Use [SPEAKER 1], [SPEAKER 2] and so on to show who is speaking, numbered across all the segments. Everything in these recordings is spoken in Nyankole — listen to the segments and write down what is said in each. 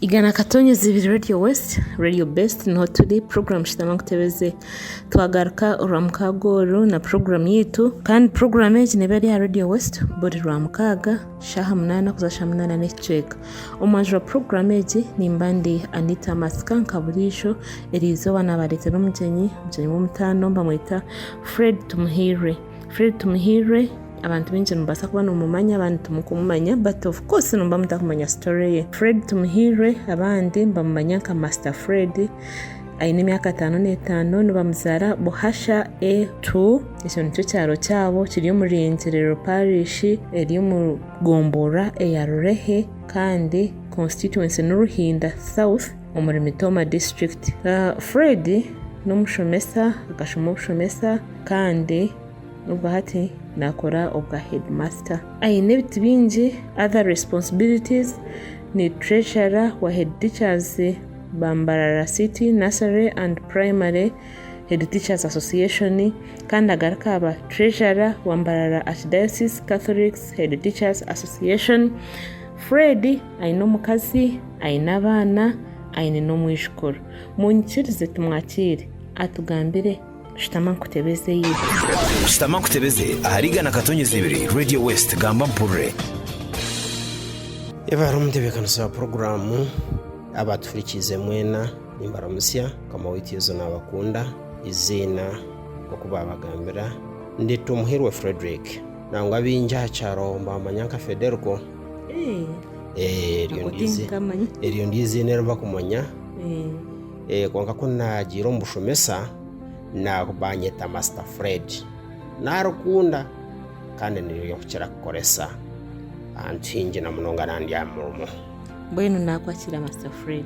[SPEAKER 1] igana katonyezi ibiri radio west radio best niho turi porogaramu shitama nkutebeze twagaruka orwa mukaaga oru na porogaramu yaitu kandi porogaramu egi neeba eri aha radio west buri rwa mukaaga Shaaha munaana kuza shaaha munaana n'ekicweka. Omu majuru ga puroguramu egi nimba ndi Anita Masika nka buriijo. Eri izooba naabareetera omugyenyi, omugyenyi w'omutaano nibamweta Fred Tumuhirwe. Fred Tumuhirwe abantu baingi nimubaasa kuba nimumumanya abandi timukumumanya bati ofu koosi nimba mutakumanya sitori ye. Fred Tumuhirwe abandi nibamumanya nka Masita Fred. aine emyaka ataano n'etaano nibamuzaara Buhasha A two ekyo nikyo kyaro kyabo kiri omu Ryengyerero Parish eri omu gombora eya Rurehe kandi constituency ni Ruhinda South omuri Mitoma district. Fred n'omushomesa akashoma obushomesa kandi obwo hati nakora obwa headmaster. Aine ebiti bingi other responsibilities ni treasurer wa head teachers. ba Mbarara City Nursery and Primary Head Teachers Association kandi agaruke aha ba Treasurer wa Mbarara Archdiocese Catholics Head Teachers Association. Fred aine omukazi, aine abaana, aine n'omwijukuru. Munyikirize tumwakire atugambire. Shutama nkutebeze Yesu. Shutama
[SPEAKER 2] nkutebeze ahari igana katonyezi ibiri Radio West gamba mpurire.
[SPEAKER 3] Ebaruha Omutebeekanisi wa Puroguraamu. Abaatuhurikiize mwena nimbaramutsya. Mukama waitu Yesu naabakunda. Eiziina nk'oku baabagambira ndi Tumuhirwe Fredrick. Nangwa baingi aha kyaro nibaamanya nka Federco. Eryo niryo eiziina eri bakumanya. Kwonka ku naagiire omu bushomesa, baanyeta Masita Fred. Naarikunda kandi niryo nkukira kukoresa ahantu haingi na munonga nandi aha murimo. Mbwenu
[SPEAKER 1] naakwakira Master Fred.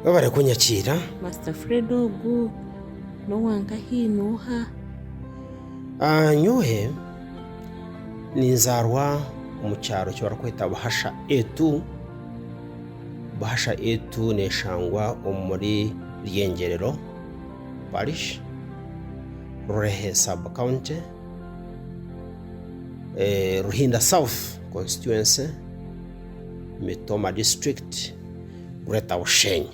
[SPEAKER 1] Webare
[SPEAKER 3] kunyakiira. Master Fred
[SPEAKER 1] ogu n'owa nkahi n'oha? Ah,
[SPEAKER 3] nyowe ninzaarwa omu kyaro eki barikweta Buhasha Etu. Buhasha Etu neeshangwa omuri Ryengyerero Parish, Rurehe Sub County, Ruhinda South Constituency. Mitoma District, Greater Bushenyi.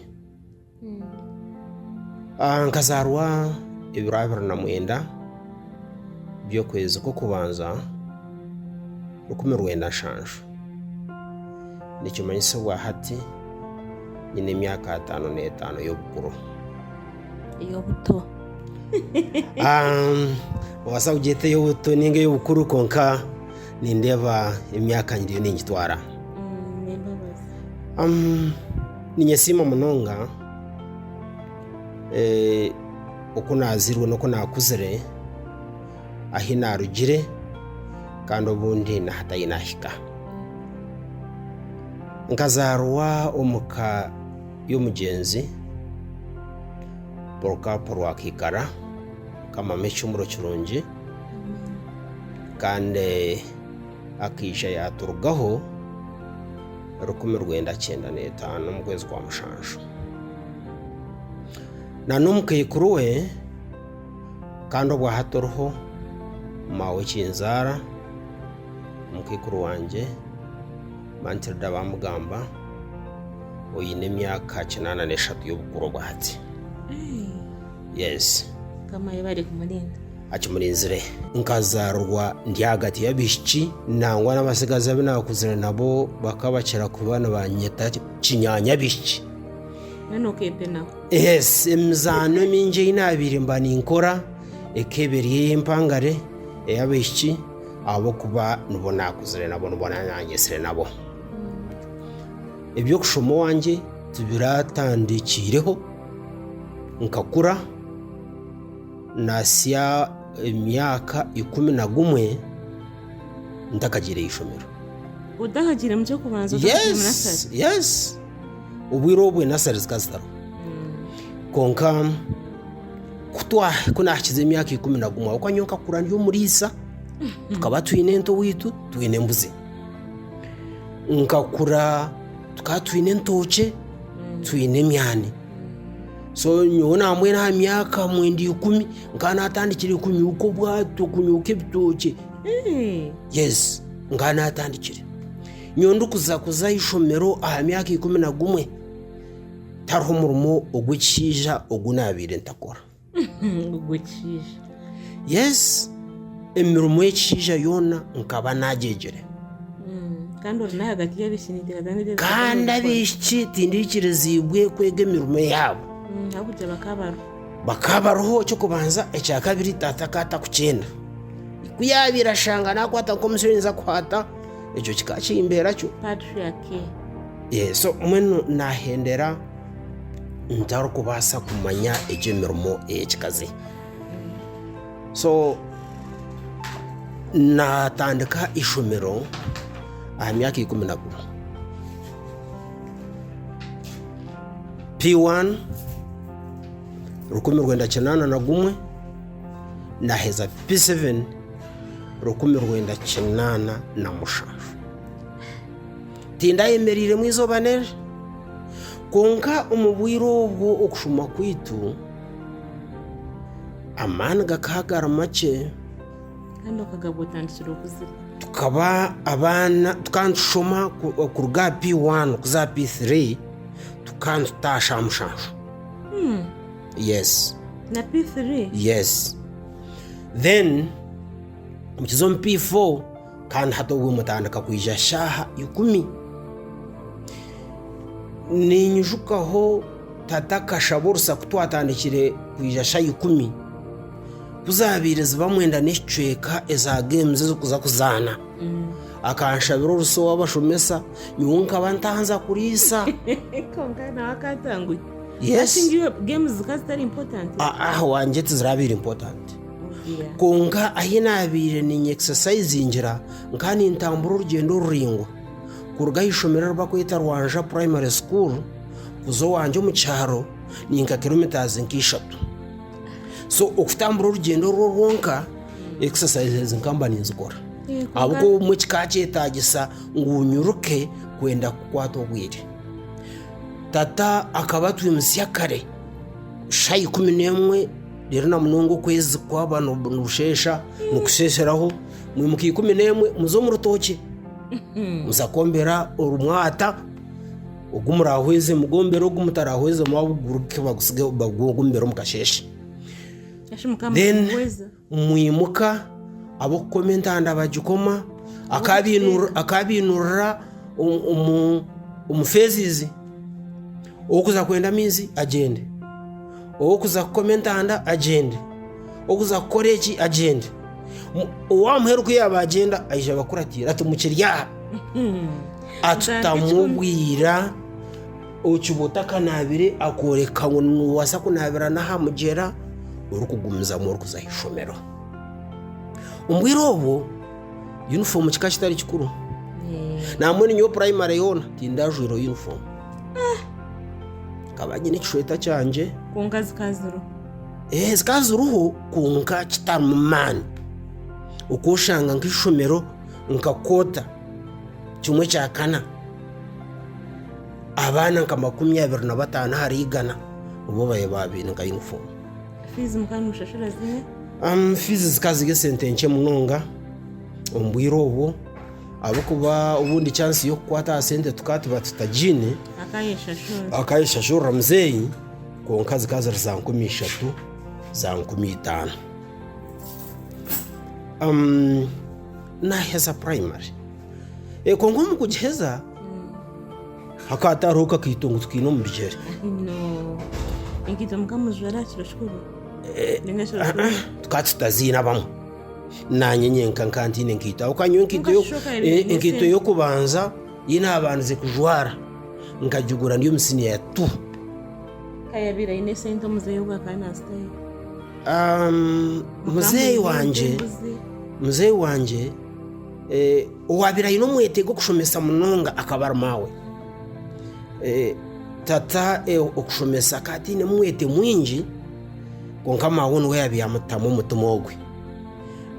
[SPEAKER 3] Ah, Nkazaarwa ebiro abiri na mwenda by'okwezi kw'okubanza rukumi rwenda nshanju. Nikimanyisibwa hati nyine emyaka ataano n'etaano y'obukuru.
[SPEAKER 1] ey'obuto Ah,
[SPEAKER 3] noobaasa kugyeta ey'obuto ninga ey'obukuru kwonka Nindeeba emyaka ngye eriyo ningitwara. Ninyesiima munonga eh, oku naazirwe n'oku naakuzire, ahi naarugire kandi obundi n'ahatahi naahika. Nkazaarwa omu ka y'omugyenzi Polycarp Rwakaikara, nkamama ekihumuro kirungi. Kandi akaija yaaturugaho rukumi rwenda kyenda n'etaano omu kwezi kwa mushanju. Na n'omukaikuru we, kandi obwa hati oriho maawe ekinzaara, omukaikuru wangye Mantilda Bamugamba, oine emyaka kinaana n'eshatu y'obukuru obwa hati. Yes. Mukama ayobe
[SPEAKER 1] arikumurinda. Akimurinzire.
[SPEAKER 3] Nkazaarwa ndi ahagati y'abaishiki nangwa n'abatsigazi abu naakuzire nabo bakaba bakira kuba nibanyeta kinyaanyabishiki. Mbwenu
[SPEAKER 1] okeepenaho. Yes,
[SPEAKER 3] emizaano emingi ei naabaire mba ninkora ekaba eri ey'empangare, ey'abaishiki ahabw'okuba nibo naakuzire nabo, nibo naanyetsire nabo. Eby'okushoma owangye tibiratandikiireho. Nkakura natsya emyaka ikumi na gumwe ntakagiire aha ishomero. Otakagiire
[SPEAKER 1] mu ky'okubanza otakagiire mu nasari? Yes, yes.
[SPEAKER 3] Obwire obwo enasari zikaba zitariho. Kwonka ku twa- ku naahikize emyaka ikumi na gumwe ahabw'okuba nyowe nkakura ndi omuriisa, tukaba twine ente owaitu, twine embuzi. nkakura tukaba twine entookye twine emyani so nyowe naamwera aha myaka mwenda ikumi nkaba naatandikire kunyuuka obwato kunyuuka ebitookye yesi nkaba naatandikire nyowe ndikuza kuza aha ishomero aha myaka ikumi na gumwe tariho murimo ogw'ekishaija ogu naabaire ntakora yesi emirimo y'ekishaija yoona nkaba nagyegyire
[SPEAKER 1] mm, kandi abaishiki
[SPEAKER 3] tindiikiriziibwe kwega emirimo yaabo
[SPEAKER 1] mm, bakaba
[SPEAKER 3] bariho kyokubanza ekyakabiri taata akaba takukyenda ku yaabaire ashanga naakwata nk'omusyo ninza kukwata ekyo kikaba kimbeera kyo
[SPEAKER 1] eh, so
[SPEAKER 3] mbwenu naahendera ntarikubaasa kumanya egyo emirimo ey'ekikazi so naatandika eishomero aha myaka ikumi na gumwe P1 rukumi rwenda kinaana na gumwe naheza P7 rukumi rwenda kinaana na mushanju Tindayemereiremu eizooba n'enjura, kwonka omu bwire obwo okushoma kwaitu amaani gakaba gari makye. Kandi
[SPEAKER 1] okagabwa otandikire okuzire. Tukaba
[SPEAKER 3] abaana, tukaba nitushoma kuruga aha P1 kuza aha P3, tukaba nitutaasha aha mushanju. Hmm. Yes. Na P3?
[SPEAKER 1] Yes.
[SPEAKER 3] Then, mukiza omu P4, Kandi hati obwo mutandika kwija shaaha ikumi. Ninyijukaho tata akashaba orusa ku twatandikire kwija shaaha ikumi, ku zaabaire ziba mwenda n'ekicweka eza geemuzi ez'okuza kuzaana. Akanshabira orusa ow'abashomesa, nyowe nkaba ntaanza kuriisa. Kwonka
[SPEAKER 1] nawe akatanguhi. Yes. Ati ngu iwe
[SPEAKER 3] geemuzi
[SPEAKER 1] zikaba zitari impotanti. Aa, owangye
[SPEAKER 3] tiziraabaire impotanti. Kwonka ahi naabaire niinyekisasayizingira, nkaba nintambura orugyendo oruraingwa kuruga aha ishomero eri barikweta Rwanja Primary School kuza owangye omu kyaro ni nka kiromitaazi nka ishatu. So okutambura orugyendo orwo rwonka ekisasayizi ezi nkaba mba ninzikora ahabw'okuba obumwe kikaba kyetaagisa ngu nyiruke kwenda kukwata obwire. Tata akaba atwimutsya kare shaaha ikumi n'emwe Reero na munonga okwezi kwaba nibusheesha nikusheesheraho, mwimuka ikumi n'emwe muze omu rutookye, muza kwombera orumwata ogu muraahweze, mugombere ogu mutaraahwezemu abaguruke bagutsige bagugombere omu kasheeshe. Eshi mukama Then nimuhweza. mwimuka ab'okukoma entanda bagikoma, akaabainurira- akaabainurira omu- omu- omu feezizi, ow'okuza kwenda amaizi agyende. Ow'okuza kukoma entanda agyende, ow'okuza kukora eki agyende. Owaamuheera oku yaabagyenda aija abakuratiire ati, Mukiri aha! Atutamu obwira okiba otakanaabire akooreka ngu noobaasa kunaabira n'aha mugyera orikugumizamu orikuza aha ishomero. Omu bwire obwo, yunifoomu kikaba kitari kikuru. Naambwenu nyowe purayimare yoona tindajwaire yunifoomu. Nkaba nyine ekishweta kyangye. Kwonka zikaba
[SPEAKER 1] ziriho. Eeh zikaba
[SPEAKER 3] ziriho kwonka kitarimu maani. Okoshanga nk'eishomero nka kota kimwe kya kana, abaana nka makumi abiri na bataano ahari igana nibo baaba baine nka yunifoomu. Fiizi
[SPEAKER 1] mukaba nimushashura zimwe? Fiizi
[SPEAKER 3] zikaba ziri esente nkye munonga omu bwire obwo. ahabw'okuba obundi chansi y'okukwata aha sente tukaba tuba tutagiine, akayeshashurira. akayeshashurira muzeeyi kwonka zikaba ziri za nkumi ishatu za nkumi itaano Um, naheza primary Eh, kwonka omu kugiheza hakaba hatariho kakaito ngu tukaine omu bigyere Ino enkaito
[SPEAKER 1] mukamujwera aha kiro kikuru ninga ekiro kikuru
[SPEAKER 3] tukaba tutaziine abamu Naanye nyenka nkaba ntaine nkaito ahabw'okuba nyowe enkaito y'okubanza ei naabandize kujwara nkagigura ndi omu siniya ya tu. Ka yaabaire
[SPEAKER 1] aine sente muzeeyi ogu akaba naazitayo? Muzeeyi wangye,
[SPEAKER 3] muzeeyi wangye owaabaire aine omwete gw'okushomesa munonga akaba ari maawe. Tata okushomesa akaba atainemu mwete mwingi. Kwonka maawe we niwe yaabaire yamutamu omutima ogwe.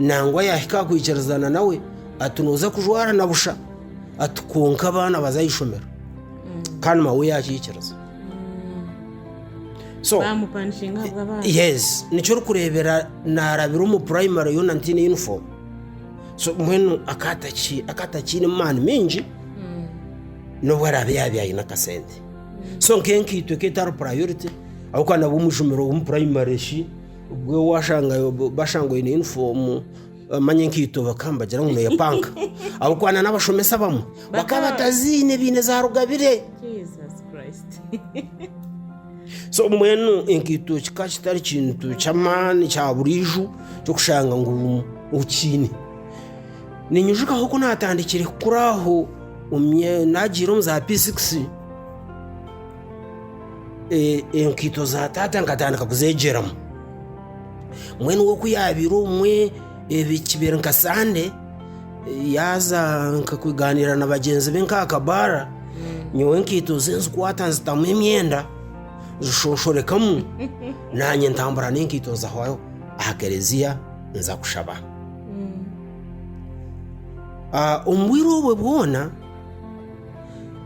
[SPEAKER 3] Nangwa yaahika aha kwikirizana nawe ati nooza kujwara na busha ati kwonka abaana baza aha ishomero mm. kandi maawe yaakikiriza so
[SPEAKER 1] yes nikyo
[SPEAKER 3] orikureebera naarabira omu primary yoona ntiine uniform so mbwenu akatakiine maani mingi mm. n'obu araabe yaabe aine akasente so nk'enkaito eka etari purayoriti ahabw'okuba nabwo omujumire omu purayimari shi obwo waashanga bashanga oine yunifoomu manya enkaito bakaba nibagira ngu neeya panka ahabw'okuba na n'abashomesa abamwe bakaba bataziine baine za rugabire so mbwenu enkaito kikaba kitari kintu ky'amaani kya buriijo ky'okushanga ngu okiine. Niinyijukaho ku naatandikire kukura aho Naagiire omu za pisikisi, enkaito za taata nkatandika kuzeegyeramu. Mbwenu we ku yaabaire obumwe kibaire nka sande, yaaza nka kugaaniira na bagyenzi be nk'aha kabaara, nyowe enkaito ze nzikwata nzitamu emyenda, nzishoshoorekamu, naanye ntambura n'enkaito nza aha kereziya nza kushaba. Omu bwire obwo bwona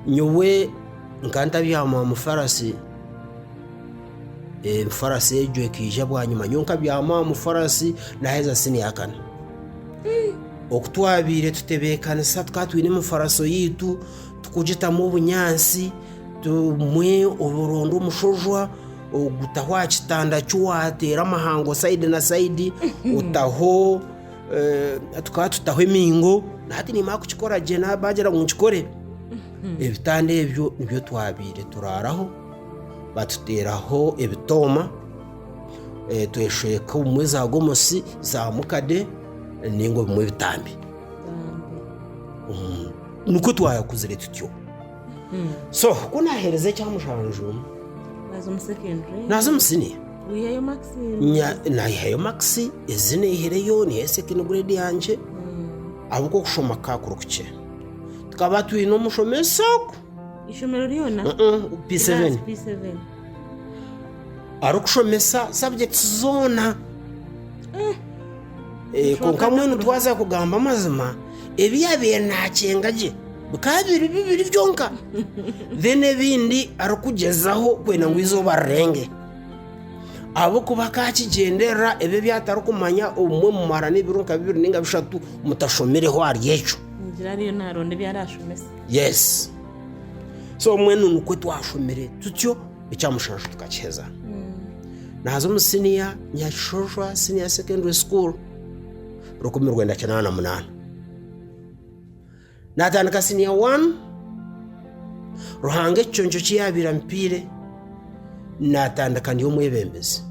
[SPEAKER 3] nyowe nkaba ntabyama omu farasi, farasi egyo ekaija bwanyima nyowe nkabyama omu farasi naheza siniya ya kana. Oku twabaire tutebeekanisa tukaba twine emifaratso yaitu turikugitamu obunyaatsi obumwe oronda omushojwa ogutaho aha kitanda ki waateera amahango sayidi na sayidi otaho Tukaba tutaho emiingo, nati nimara kukikora gye bagira ngu nkikore. Ebitanda ebyo nibyo twabaire turaaraho, batuteeraho ebitooma, tweshweka obumwe za gomosi, za mukade nainga obumwe ebitambi. Nikwo twakuzire tutyo. so ku naaheereza ekya mushanju Naza omu secondary. naaza omu siniya Wihayo Maxine.
[SPEAKER 1] Nya- naihayo
[SPEAKER 3] makisi ezi neihireyo niyo second grade yangye ahabw'oku okushoma kukaba kuri kukye tukaba twine omushomesa ogu
[SPEAKER 1] Ishomero lyona. Mm-mm, P7 P7.
[SPEAKER 3] arikushomesa subjects zoona Eh, kwonka mbwenu twaza kugamba amazima ebi yaabaire naakyenga gye bikaba biri bibiri byonka then ebindi arikugyezaho kwenda ngu eizooba rirenge ahabw'okuba akaakigyenderera ebi ebi atarikumanya obumwe mumara n'ebiro nka bibiri ninga bishatu mutashomireho ahari ekyo Nigira ariyo naaronda
[SPEAKER 1] ebi araashomesa. yes
[SPEAKER 3] so mbwenu nikwo twashomire tutyo ekya mushanju tukakiheza naaza omu siniya nyakishojwa siniya secondary school rukumi rwenda kinaana na munaana. Naatandika siniya waani, Ruhanga ekiconco ki yaabaire ampiire, naatandika ndi omwebembezi.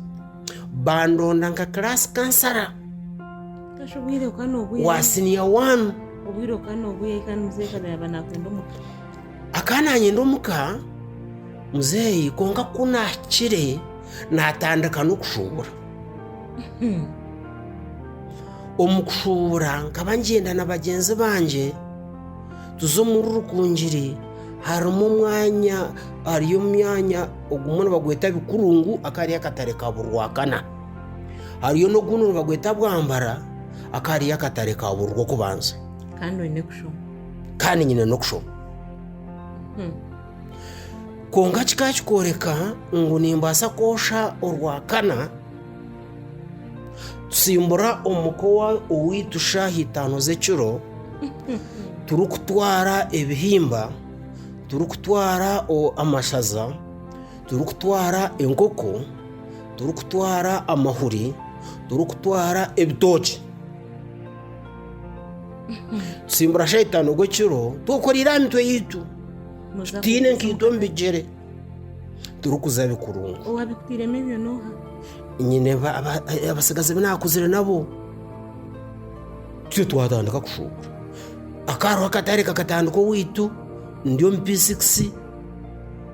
[SPEAKER 3] Bandonda nka kiraasi kansara Kasha
[SPEAKER 1] obwire bukaba n'obwire. wa siniya waani.
[SPEAKER 3] Obwire bukaba n'obwire
[SPEAKER 1] kandi muzeeyi kaza yaaba nakwenda omuka. akaba
[SPEAKER 3] nanyenda omuka muzeeyi kwonka ku naakire naatandika n'okushuubura Omu kushuubura nkaba ngyenda na bagyenzi bangye tuza omuri Rukungiri harimu omwanya ahari omwanya ogumwe nibagweta Bikurungu akari akatare ka Burwakana. Hariyo n'ogundi nibagweta Bwambara akari akatare ka Burwokubanza. Kandi oine kushoma. Kandi nyine n'okushoma. Kwonka kikaba kikworeka ngu nimbaasa kwosha orwakana, tusimbura omuka owaitu shaaha itaano z'ekiro turikutwara ebihimba, turikutwara amashaza, turikutwara enkoko, turikutwara amahuri, turikutwara ebitookye. Tusimbura shaitani ogwo ekiro twekoreire aha mitwe yaitu tutaine nkaito omu bigyere turikuza bikurungu owabikuteiremu ebyo noha
[SPEAKER 1] nyine ba-
[SPEAKER 3] aba- abatsigazi bi naakuzire nabo titwe twatandika kushuubura akaroho akatare kakatandika owaitu ndi omu p6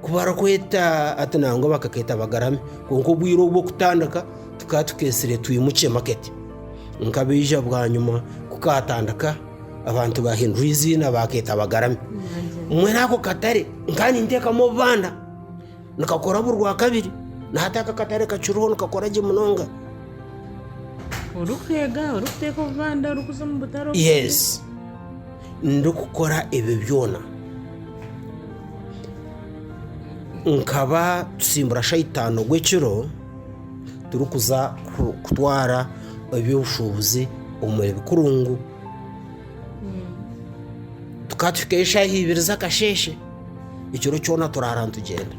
[SPEAKER 3] kubarakweta ati nangwa bakaketa bagarame kwonka obwire obwokutandika Tukaba tukeetsire twimukye maketi. Nkabaija bwanyima ku kaatandika, abantu baahindura eiziina baakeeta Bagarami. Mbwenu ako katare nkaba ninteekamu obubanda, nikakora buri Rwakabiri. Na hati ako akatare kakiriho nikakora gye munonga. Orikweega, orikuteeka
[SPEAKER 1] obubanda, orikuza omu butare obundi. Yes.
[SPEAKER 3] Ndikukora ebyo byona. Nkaba tusimbura shaitaano ogw'ekiro. turikuza kutwara eby'obushuubuzi omu ebikurungu tukaba tuhikayo eshaaha ibiri z'akasheeshe ekiro kyona turaara nitugyenda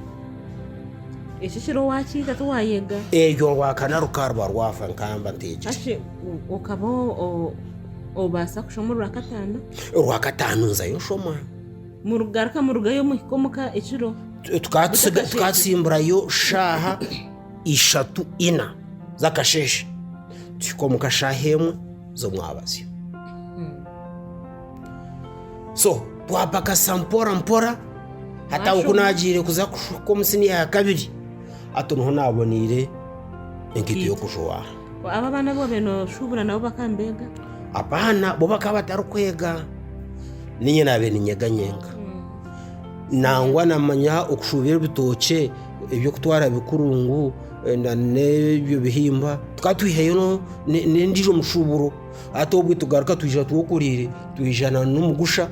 [SPEAKER 1] ekyo kiro wakiita tiwayega eryo rwakana
[SPEAKER 3] rukaba ruba rwafa nkamba ntegire kashe o-
[SPEAKER 1] okaba o- o- obaasa kushoma orwakataano orwakataano
[SPEAKER 3] nzayo nshoma
[SPEAKER 1] Murugaruka murugayo muhika omu ka ekiro. Tukaatsimburayo
[SPEAKER 3] shaaha ishatu ina z'akasheeshe, tuhika omu ka shaaha emwe z'omwabazyo. So twapakasa mpora mpora hataho ku naagiire kuza kuhika omu siniya ya kabiri, hati niho naaboneire enkaito y'okujwara. Abo abaana abu wabaire
[SPEAKER 1] nooshuubura nabo bakaba nibeega?
[SPEAKER 3] Abaana bo bakaba batarikwega, niinye naabaire niinyega nyenka. Nangwa naamanya okushuubura ebitookye, eby'okutwara bikuru ngu n'ebyo bihimba, tukaba twihayo n'endiijo mishuuburo. Hati obwe tugaruka twija twekoriire, twija n'omugusha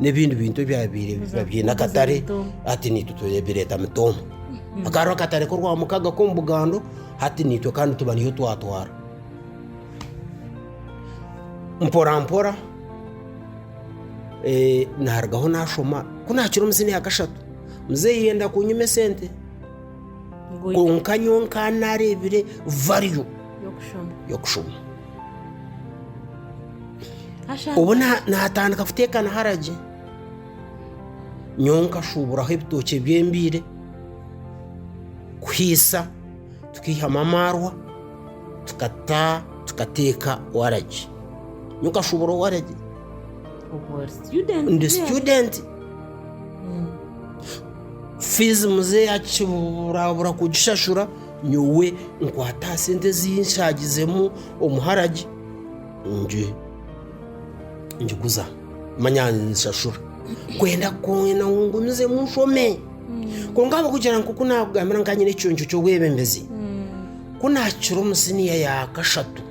[SPEAKER 3] n'ebindi bintu ebyabaire biine akatare, hati niitwe tureeta mitooma. Hakaba hariho akatare k'orwamukaaga k'omu bugando. Hati naitwe kandi tuba niyo twatwara. Mporampora eh, narugaho nashoma ku nakiri omu siniya kashatu muzeeyi yenda kunyima esente Ngu kwonka nyowe nkaba nareebire value y'okushoma. y'okushoma Asha- obu na- natandika kuteekana haragi nyowe nkashuuburaho ebitookye by'embiire kuhaisa tukaihamu amaarwa tukata tukateeka waragi nyowe nkashuubura waragi Obwo ori student ndi then. situdenti fiizi muze yakiburabura kugishashura nyowe nkwata aha sente ezi nshagizemu omuharagi Ngi, ngiguza, manya nshashura. Kwenda kwena ngu ngumizemu nshome. Kwonka ahabw'okugira ngu ku naakugambira nkaba nyine ekicuncu ky'obwebembezi, ku naakira omu siniya ya kashatu,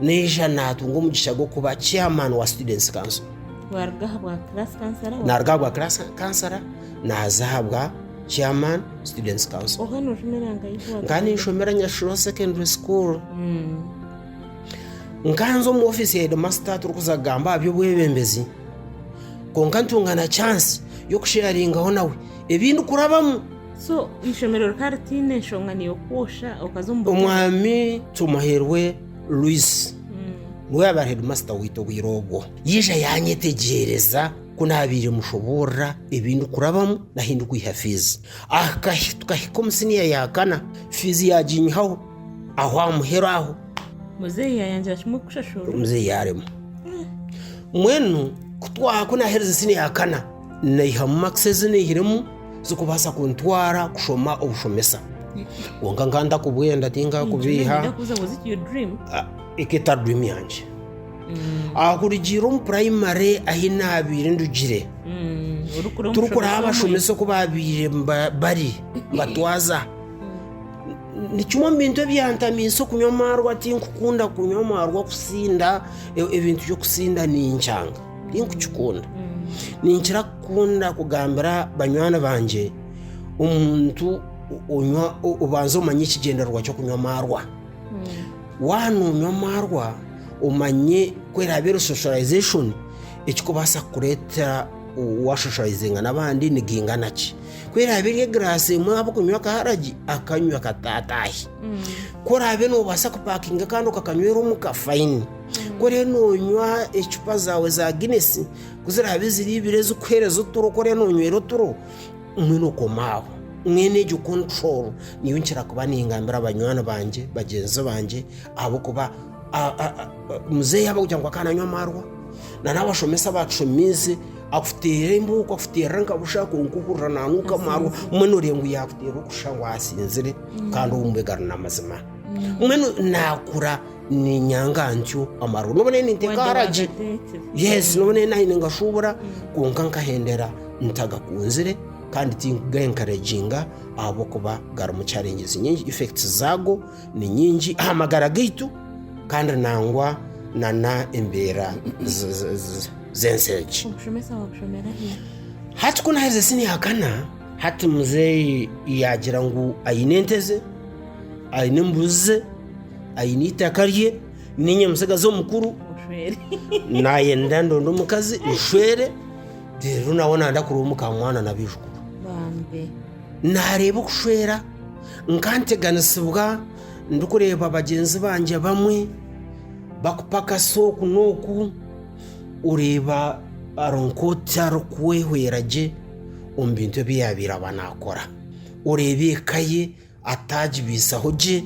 [SPEAKER 3] naija naatunga omugisha gw'okuba chairman wa Students Council. Waaruga aha bwa
[SPEAKER 1] class counselor wa- Naaruga aha bwa class
[SPEAKER 3] counselor, naaza aha bwa chairman Students Council. oba noojumira nka ijuba.
[SPEAKER 1] Nkaba ninshomera Nyashuro
[SPEAKER 3] Secondary School. nkanza omu ofisi ya hedimasita turikuza kugamba aha by'obwebembezi kwonka ntunga na chansi y'okusheyaringaho nawe ebi ndikurabamu so eishomero
[SPEAKER 1] rikaba ritaine enshonga neyokwosha okaza omu omwami
[SPEAKER 3] tumuherwe luisi niwe yaba ari hedimasita waitu obwire obwo yaija yanyetegyereza ku naabaire mushoboorora ebi ndikurabamu nahi ndikwiha fiizi Aha kahi- tukahika omu siniya ya kana fiizi yaginyihaho aho aha muheru aho Muzeeyi
[SPEAKER 1] yayangira kimwe kushashurwa. omuzeeyi yaaremwa
[SPEAKER 3] mbwenu ku twaha ku naaherize siniya ya kana naihamu makisi ezi naihiremu zikubaasa kuntwara kushoma obushomesa kwonka nkaba ntakubwenda tinkakubiiha Nenda kubuuza was it your dream?
[SPEAKER 1] Ah, eka etari dream
[SPEAKER 3] yangye ahakurugiirira omu purayimare ahi naabaire ndugire Mm, orikura omushomesa turikuraba omwe. abashomesa oku baabaire ba- bari batwaza Ni kimwe omu bintu ebyantamiisa okunywa amaarwa tinkukunda kunywa amaarwa kusinda e- ebintu by'okusinda ninkyanga tinkukikunda ninkira kukunda kugambira banywani bangye omuntu onywa o- obanza omanye ekigyendererwa ky'okunywa amaarwa waana onywa amaarwa omanye ku eraabe eri socialisation ekikubaasa kukureetera waashoshorayizinga n'abandi nigaingana ki Ku eraabe eri egiraasi emwe ahabw'okunywa akaharagi, akanywa kata ataahe. Ku oraabe noobaasa kupaakinga kandi okakanywera omuka, fayini. Ku oriyo noonywa ecupa zaawe za Guinness, ku ziraabe ziri ibiri ezikuheereza oturo, ku oriyo noonywera oturo, mbwenu okoma aho. Mbwenu egyo control niyo nkira kuba ningambira banywani bangye, bagyenzi bangye ahabw'okuba muzeeyi aba kugira ngu akaba nanywa amarwa nana abashomesa abatushomiize akuteera embuuku akuteerera nka busha kwonka ohurira nanuuka amarwa omwe noreeba ngu yakuteera okusha ngu asinzire kandi obu mbwega ari namazima omwe no- nakura ninyanga ntyo amarwa noba naye ninteeka haragi yes noba naye nahi ningashuubura kwonka nkahendera ntagakunzire kandi tinkuga enkaraginga ahabw'okuba garimu challenges nyingi effects zaago Ni nyingi aha magara gaitu kandi nangwa nana embeera z'ensi egi.
[SPEAKER 1] Hati ku naherize
[SPEAKER 3] siniya kana, hati muzeeyi yaagira ngu aine ente ze, aine embuzi ze, aine eitaka rye, niinye mutsigazi omukuru
[SPEAKER 1] naayenda
[SPEAKER 3] ndonde omukazi nshwere reero nawe naayenda kureeba
[SPEAKER 1] omukamwana
[SPEAKER 3] n'abaijukuru. Naareeba okushwera nkanteganisibwa ndikureeba bagyenzi bangye abamwe bakupakasa oku n'oku, oreeba ari nk'oti arikwehwera gye omu bintu ebi yaabaire aba naakora. Oreeba eka ye ataagibaisaho gye,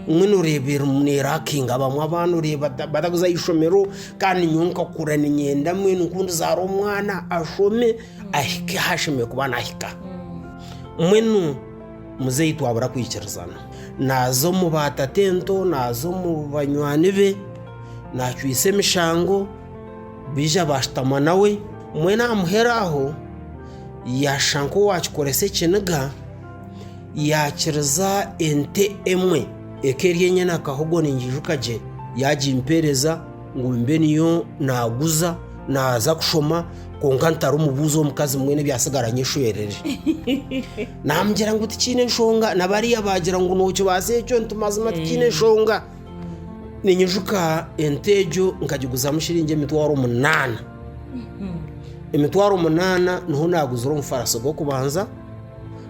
[SPEAKER 3] mbwenu oreeba erimu neerakinga abamwe abaana oreeba batakuza aha ishomero kandi nyowe nkakura niinyenda mbwenu ku ndizaara omwana ashome. ahike ahu ashemereire kuba naahika. Mbwenu muzeeyi twabura kwikirizana, naaza omu baatata ento, naaza omu banywani be, naacwitsa emishango, baija baashutama nawe, mbwenu aha muheru aho yaashusha nk'owaakikoresa ekiniga, yaakiriza ente emwe eka eri enyena akahogo ningiijuka gye, yaagimpeereza. ngu mbe niyo naaguza naaza kushoma kwonka ntarumubuuza omukazi mbwenu ebyasigara nyeshwerere namugira ngu tikiine enshonga nabariya baagira ngu nookibaasa ekyo nti mazima tikiine enshonga ninyijuka ente egyo nkagiguzamu shiringi emitwaro munaana emitwaro munaana niho naaguzire omufarasi gw'okubanza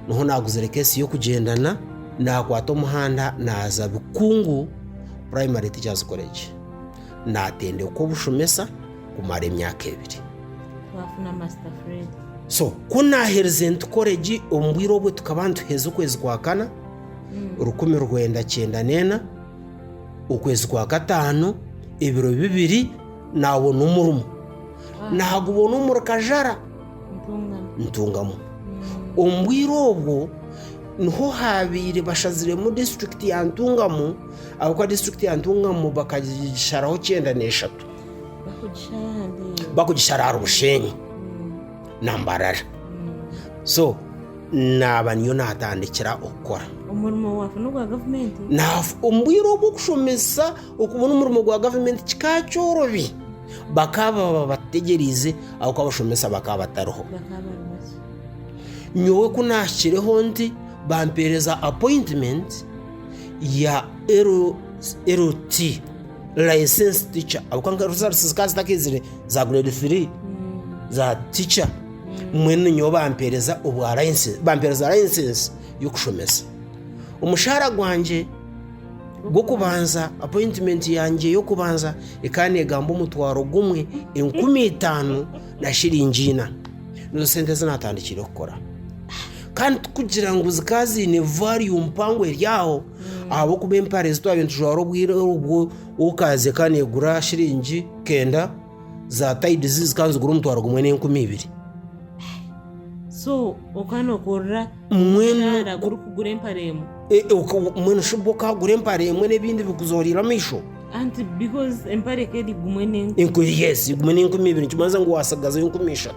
[SPEAKER 3] niho naaguzire keesi y'okugyendana naakwata omuhanda naaza bikungu Primary Teachers College, naatendekwa obushomesa kumara emyaka ebiri. Twafuna
[SPEAKER 1] Master Fred. So, ku
[SPEAKER 3] naaherize nti koregi omu bwire obwo tukaba nituheeza okwezi kwa kana, rukumi rwenda kyenda n'ena, okwezi kwa kataano, ebiro bibiri, naabona omurimo. Naagubona omuri Kajara, Ntungamo. ntungamu. Omu bwire obwo niho haabaire bashaziremu disiturikiti ya Ntungamu ahabw'okuba disiturikiti ya Ntungamo bakagisharaho kyenda n'eshatu bakugishara ahandi bakugishara ahari Bushenyi na Mbarara so naaba niyo naatandikira okukora omurimo waafuna
[SPEAKER 1] ogwa gavumenti Naaf- omu bwire
[SPEAKER 3] obw'okushomesa okubona omurimo gwa gavumenti kikaba kyorobi bakaba babategyerize ahabw'okuba abashomesa bakaba batariho bakaba bari basi nyowe ku naahikireho nti bampeereza appointment ya LLT, Licensed Teacher, ahabw'okuba nka results zikaba zitakaizire za grade three za teacher, mbwenu nyowe bampeereza obwa license, bampeereza license y'okushomesa. Omushaara gwangye gw'okubanza, appointment yangye y'okubanza ekaba neegamba omutwaro gumwe, enkumi itaano na shillingi ina. Nizo sente ezi naatandikiire kukora. Kandi tikugira ngu zikaba ziine value mpango eri aho ahabw'okuba empare ezi twaba nitujwara obwire obwo woka zikaba neegura shiringi kenda za tayidi zi zikaba nizigura omutwaro gumwe n'enkumi ibiri. so
[SPEAKER 1] okaba nookorera Mwenu- omushara
[SPEAKER 3] gurikugura empare
[SPEAKER 1] emwe E- e, oku- Mbwenu
[SPEAKER 3] shi bwo okagura empare emwe n'ebindi bikuzooriire amaisho anti because
[SPEAKER 1] empare eka eri gumwe n'enkumi enkumi yesi gumwe
[SPEAKER 3] n'enkumi ibiri nikimanyiisa ngu waatsigazayo enkumi ishatu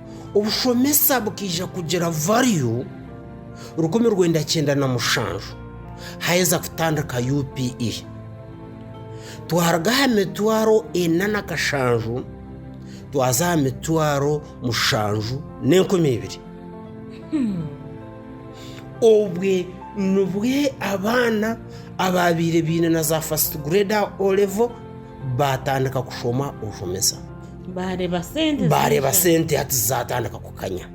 [SPEAKER 3] Obushomesa bukaija kugira value rukumi rwenda kyenda na mushanju haaheza kutandika UPE. Twaruga aha mitwaro ena na kashanju twaza aha mitwaro mushanju n'enkumi ibiri. Obwe nibwo abaana abaabaire baine na za first grade aha O-Level, baatandika kushoma obushomesa baareeba sente baareeba ziija. sente hati zaatandika kukanya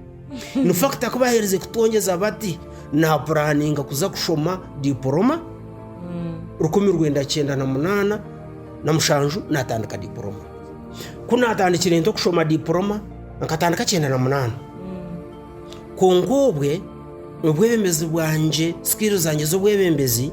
[SPEAKER 3] nifakita ku baaherize kutwongyeza bati naapuraaninga kuza kushoma diporoma rukumi rwenda kyenda na munaana na mushanju naatandika diporoma ku naatandikire nte okushoma diporoma nkatandika kyenda na munaana kwonka obwe obwebembezi bwangye sikirizi zangye z'obwebembezi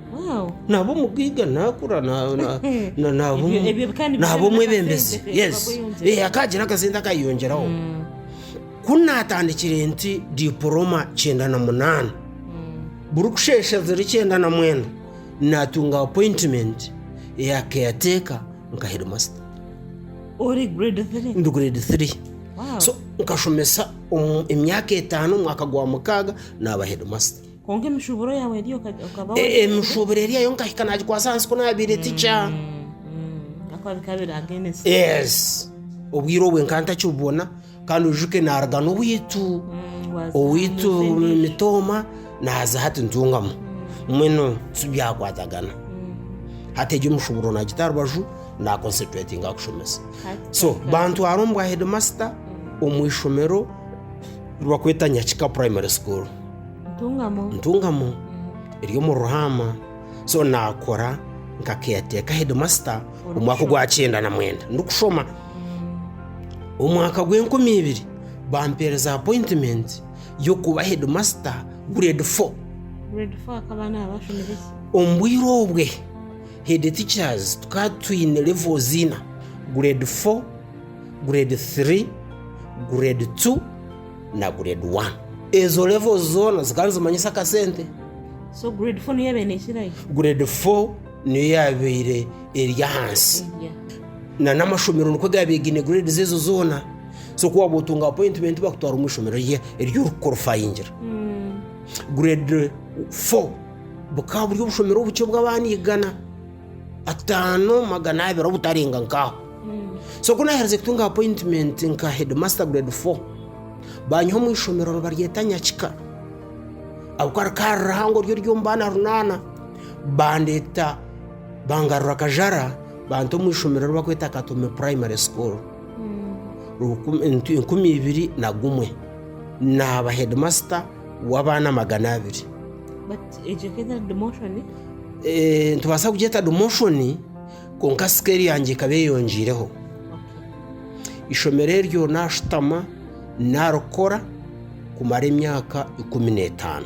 [SPEAKER 3] naaba omugaiga naakura naaba omwebembezi akaagira akasente akaayeyongyeraho hmm. ku naatandikire nti diporoma kyenda na munaana hmm. burikusheesha ziri kyenda na mwenda naatunga apointimenti eya keyateeka nka hedimasita ori
[SPEAKER 1] grade 3 ndi grade 3
[SPEAKER 3] so nkashomesa emyaka etaano omwaka gwa mukaaga naaba hedimasita Kwonka emishuburo yaawe
[SPEAKER 1] eri oka- okaba wa- E- emishuburo eri eyo
[SPEAKER 3] nkahika nagikwasa ahansi ku naabaire tikya Mm, mm,
[SPEAKER 1] ahakuba bikaba biri against. yes
[SPEAKER 3] obwire obwe nka ntakibubona kandi ojuke naruga n'owaitu Mm, waza owaitu ahansi endi. mitooma naaza hati ntungamu mwenu tibyakwatagana hati egyo omushuburo nagita aha rubaju naconcentratinga kushomesa Hati so twahika- bantwara omu bwa headmaster omu ishomero ribakweta nyakika primary school ntungamo eri omu ruhaama so naakora nka keyateeka hedimasita omwaka ogwa kyenda na mwenda ndikushoma omwaka gw'enkumi ibiri bampeereza apointimenti y'okuba hedimasita gureedi fo
[SPEAKER 1] omu bwire obwe
[SPEAKER 3] hedi ticazi tukaba twine levozi ina gureedi fo gureedi tiri gureedi tu na grade 1 ezo levels zoona zikaba nizimanyisa akasente so grade
[SPEAKER 1] 4 niyo yabaire nekirayo
[SPEAKER 3] grade 4 niyo yabaire eri ahansi na n'amashomero nikwo gaabaire gaine grades ezo zoona so ku waaba otunga appointment bakutwara omu ishomero rye eri orikukorifayingira grade 4 bukaba buri obushomero obukye obu abaana igana ataano magana abiri obutarenga nkaaho so ku naaherize kutunga appointment nka headmaster grade 4 banyiha omu ishomero nibaryeta nyakika ahabw'okuba rikaba ririhango ryo ry'omu baana runaana bandeeta bangarura kajara banta omu ishomero eri bakweta katome primary school rukumi ntu- enkumi ibiri na gumwe naaba headmaster w'abaana magana abiri. Nitubaasa kugyeta dimoshoni kwonka sikeeri yangye ekaba eyongiireho. Eishomero eryo naashutama naarikora kumara emyaka ikumi n'etaano.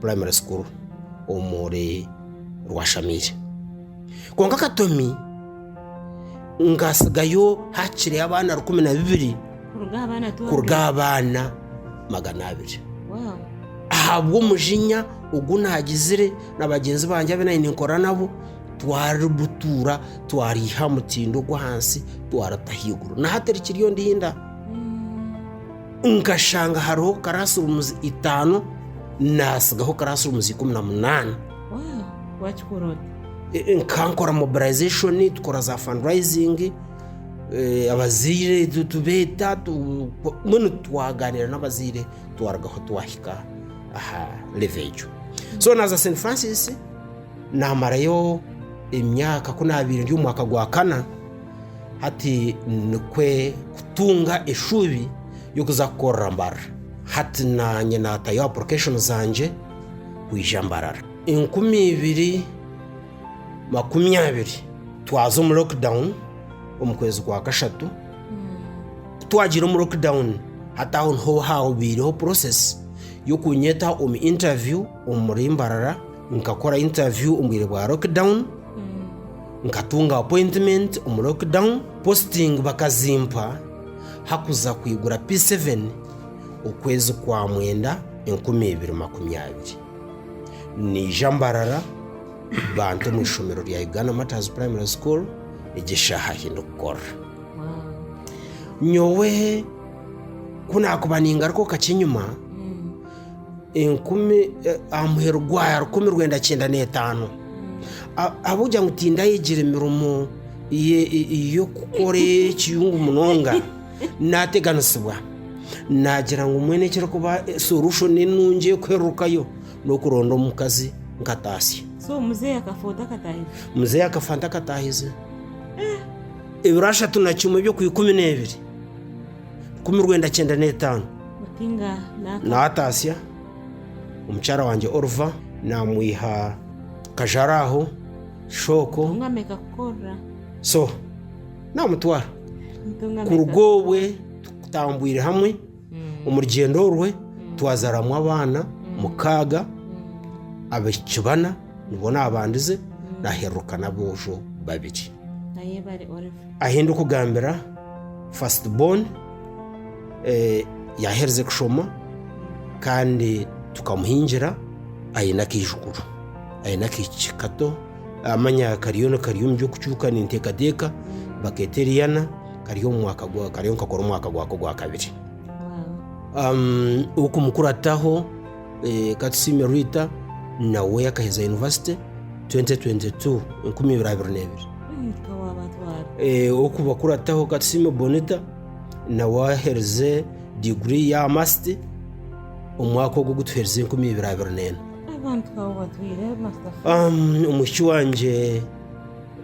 [SPEAKER 3] primary school omuri rwashamiire kwonka katomi nka atsigayo hakiri abaana rukumi na bibiri kuruga aha baana kuruga aha baana magana abiri
[SPEAKER 1] ahabwa
[SPEAKER 3] omujinya ogu nagizire na bagyenzi bangye abu nabaire ninkora nabo twari butuura twari hamutindo gwa hansi twarita ahaiguru na hati rikiriyo ndinda. nkashanga hariho karasirumuzi itaano naatsigaho karasirumuzi ikumi na munaana
[SPEAKER 1] wakikora ota Eh,
[SPEAKER 3] nkankora mobilization tukora za fundraising eh, abazaire tu- tubeeta tu- mbwenu twaganira n'abazaire twarugaho twahika aha leve egyo so naza st francis namarayo emyaka ku nabaire ndi omu mwaka gwa kana Hati nikwe kutunga eshuubi y'okuza kukorera Mbarara. Hati naanye naatayo apurikashoni zangye kwija Mbarara. Enkumi ibiri makumi abiri twaza omu lockdown omu kwezi kwa kashatu. Ku twagiire omu lockdown, hati aho niho haabaireho purosesi y'okunyeta omu intaviyu omuri Mbarara. Nkakora intaviyu omu bwire bwa lockdown. nkatunga appointment omu lockdown posting bakazimpa hakuza kwigura P7 okwezi kwa mwenda enkumi ibiri makumi abiri niija mbarara banta omu ishomero rya Uganda Martyrs Primary School egi eshaaha ahi ndikukorera nyowe ku naakuba ningaruka omu kakyenyuma enkumi aha muheru gwa rukumi rwenda kyenda n'etaano ahabw'okugira ngu tindayegire mirimo y'okukora ekiyungu munonga nateganisibwa nagira ngu mwene ekirikuba solution enungi ey'okuherurukayo n'okuronda omukazi nkataasya
[SPEAKER 1] muzeeyi akafa
[SPEAKER 3] ntakataahize ebiro ashatu na kimwe eby'okwikumi n'ebiri nkumi rwenda kyenda n'etaano
[SPEAKER 1] naatatsya
[SPEAKER 3] omukyara wangye Oliver naamwiha kajara aho shooko
[SPEAKER 1] so
[SPEAKER 3] naamutwara kuruga obwe tutambwire hamwe omu rugyendo orwe twazaramu abaana mukaaga abaishiki bana Nibwo naabandize naaherruka n'aboojo babiri. Ahi ndikugambira first born yaaherize kushoma kandi tukamuhingira aine akaijukuru, aine akaishiki kato amanya kariyo nikari omu by'okucuuka ninteekateeka bakeeta Eriana kari omu mwaka gwa kariyo nikakora omwaka gwako ogwakabiri. Ow'okumukuraataho Eh, Katusiime Rita nawe akaheza yunivasite 2022 enkumi ibiri abiri n'ebiri Rita waabatwara. Eh, okuba kurataho Katusiime Bonita nawe aherize diguri ya masiti omwaka ogu gutuherize enkumi ibiri abiri n'ena
[SPEAKER 1] Abantu abo batwire Master Fee. Um, omwishiki wangye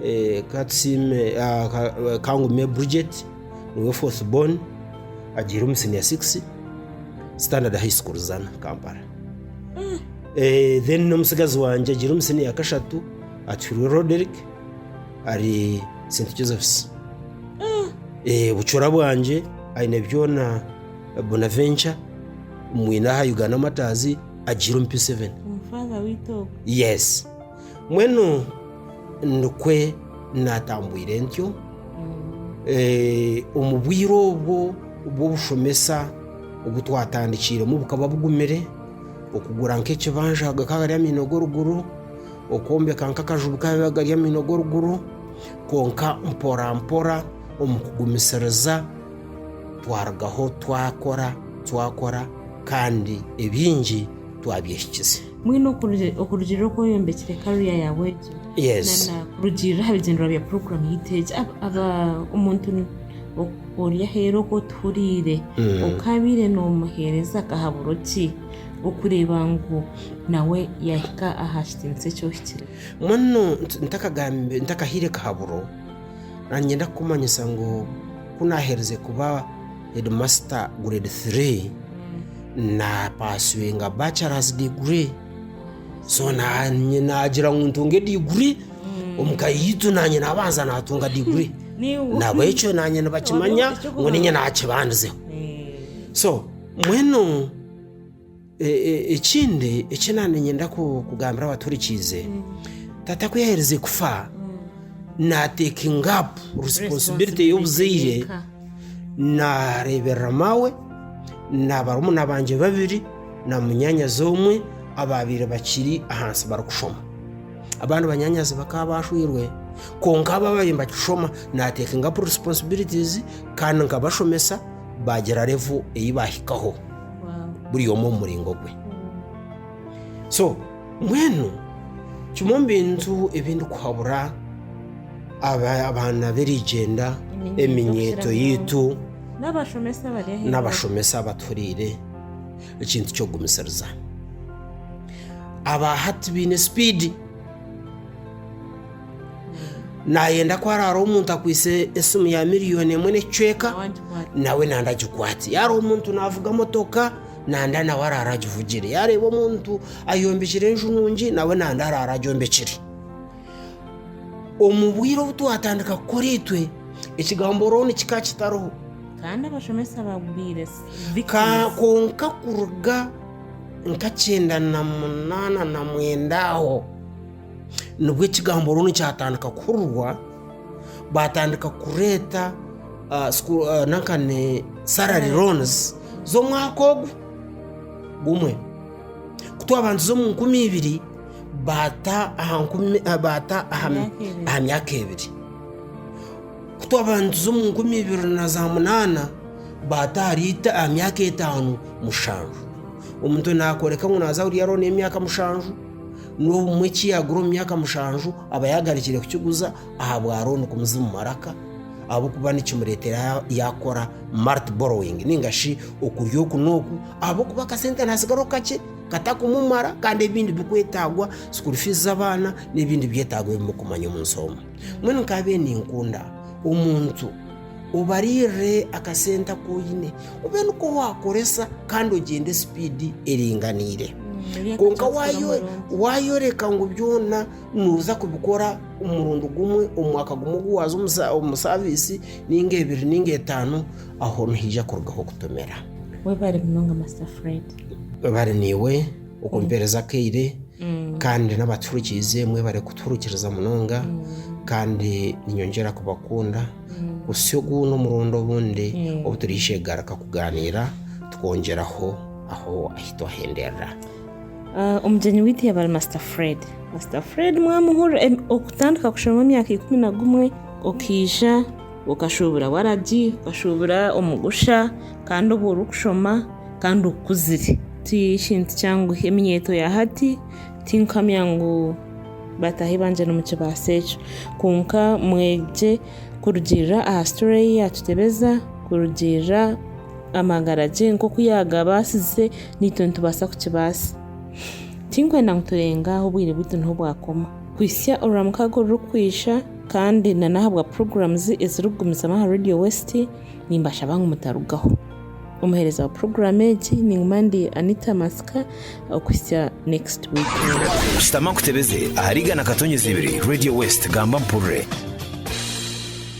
[SPEAKER 3] eh, Katusiime ah, Ka- kangume Bridget Niwe fourth born agiire omu senior six standard high school zana kampala Eh, then n'omutsigazi wangye agiire omu senior ya kashatu atuhirwe roderick ari st josephs Eh, bucura bwangye aine byona eh, bonaventure mwine aha uganda martyrs agiire omu p7 omufaza w'eitogo
[SPEAKER 1] yes
[SPEAKER 3] Mbwenu nikwe naatambwire ntyo eh, omu bwire obwo bw'obushomesa obu twatandikiiremu bukaba bugumire okugura nk'ekibanja bikaba biri amaino g'oruguru okwombeka nk'akaju bikaba biba gari amaino g'oruguru kwonka mporampora omu kugumisiriza twarugaho twakora twakora kandi ebingi twabyehikize Mbwenu okurugi-
[SPEAKER 1] okurugiirira oku oyombekire karu ya Yahwe egyo, Yes. na- na
[SPEAKER 3] kurugiirira aha
[SPEAKER 1] bigendererwa bya puroguramu yaitu egi, ab- aba- omuntu n- o- ori aheeru oku otuhuriire, Mm. okaabaire noomuheereza akahaburo ki okureeba ngu nawe yaahika aha kitiinisa eki ohikire? Mbwenu nti-
[SPEAKER 3] ntakagambi ntakahaire kahaburo, nangenda kukumanyisa ngu ku naaheerize kuba Hedimasita Gureedi Tiri naapaswinga bacarazi diguri so naanye naagira ngu ntunge diguri omu ka yaitu naanye naabanza naatunga diguri Niiwe. nahabwekyo naanye nibakimanya Oine ngu niinye ekyokubanza. naakibandizeho Eh. so mbwenu Ekindi eki naanyenda kugambira abaturikiize, tata ku yaaherize kufa, naatekinga apu risiponsibilite y'obuzaire, naareeberera maawe, na barumuna bangye babiri, na munyaanyazi omwe abaabaire bakiri ahansi barikushoma. Abandi banyaanyazi bakaba baashwirwe, kwonka abo abaabaire nibakishoma, naatekinga apu risiponsibilitizi kandi nkabashomesa baagira revo ei baahikaho. buri omwe omu muringo gwe so mbwenu kimwe omu bintu ebi ndikuhabura aba- abaana b'erigyenda eminyeeto yaitu n'abashomesa bari aheeru n'abashomesa abatuhuriire ekintu ky'okugumisiriza aba hati baine sipiidi nayenda ku hariho hariho omuntu akwitse esimu ya miliyoni emwe n'ekicweka nawe nanda agikwate yaba hariho omuntu navuga motoka nanda nawe arara agivugire yareeba omuntu ayombekire enju nungi nawe nanda arara agyombekire omu bwire obu twatandika kukora itwe ekigambo rooni kika kitariho kandi abashomesa
[SPEAKER 1] bagwire Ka-
[SPEAKER 3] konka kuruga nka kyenda na munaana na mwenda aho nibwo ekigambo runu kyatandika kuhurirwa batandika kureeta ah, school- ah, nanka ni salary loans z'omwaka ogu gumwe kutwabanziza omu nkumi ibiri bata aha nkumi ah, bata aha Myaka ebiri. aha myaka ebiri kutwabanziza omu nkumi ibiri na za munana bata ahari ita- aha myaka etaano mushanju omuntu nakoreka ngu naza kuriya roni y'emyaka mushanju N'obumwe eki yaagura omu myaka mushanju aba yaagarukire kukiguza aha bwa rooni kumuza omu maraka ahabw'okuba nikimureetera yaakora mart borrowing ninga shi okurya oku n'oku ahabw'okuba akasente naatsigaho kakye katakumumara kandi ebindi bikwetaagwa sukuuru fiizi z'abaana n'ebindi byetaago ebi murikumanya omunsi omu. Mbwenu nkaabire ninkunda omuntu Obariirire akasente aku oine, obe niko waakoresa kandi ogyende sipiidi eringaniire. Kwonka waayoreka ngu byona nooza kubikora omurundi gumwe omu mwaka gumwe ogu waaza omu saaviisi, nainga ebiri nainga etaano, aho nihaija kurugaho kutomera. Webare munonga
[SPEAKER 1] Master Fred. Webare naiwe.
[SPEAKER 3] okumpeereza akaire kandi n'abaturikiize mwebare kutuhurikiriza munonga kandi ninyongyera kubakunda kutsya ogu n'omurundi obundi obu turiishegarika kugaaniira tukongyeraho aho ahi twahenderera Ah,
[SPEAKER 1] omugyenyi waitu yaba ari masita fred masita fred mwamuhurira em, okutandika kushoma emyaka ikumi na gumwe okaija okashuubura waragi okashuubura omugusha kandi obwo orikushoma kandi okukuzire. Ti kintu kyangu. Eminyeeto ya hati tinkamya ngu bataahi bangye nimukibaasa ekyo. Kwonka mwegye kurugiirira aha story ei yaatutebeza, kurugiirira amagara gye nk'oku yaagabaasize, naitwe nitubaasa kukibaasa. Tinkwenda ngu turenga ahu obwire bwaitu niho bwakoma. Kuhitsya Orwamukaaga orurikwija kandi n'ahabwa programs ezirikugumizamu aha Radio West, nimbashaba ngu mutarugaho. Omuheereza wa puroguraamu egi ninguma ndi Anita Masika okuhitsya next
[SPEAKER 2] week. Shutama
[SPEAKER 1] nkutebeze
[SPEAKER 2] ahari igana katonyezi ibiri Radio
[SPEAKER 1] West
[SPEAKER 2] gamba mpurire.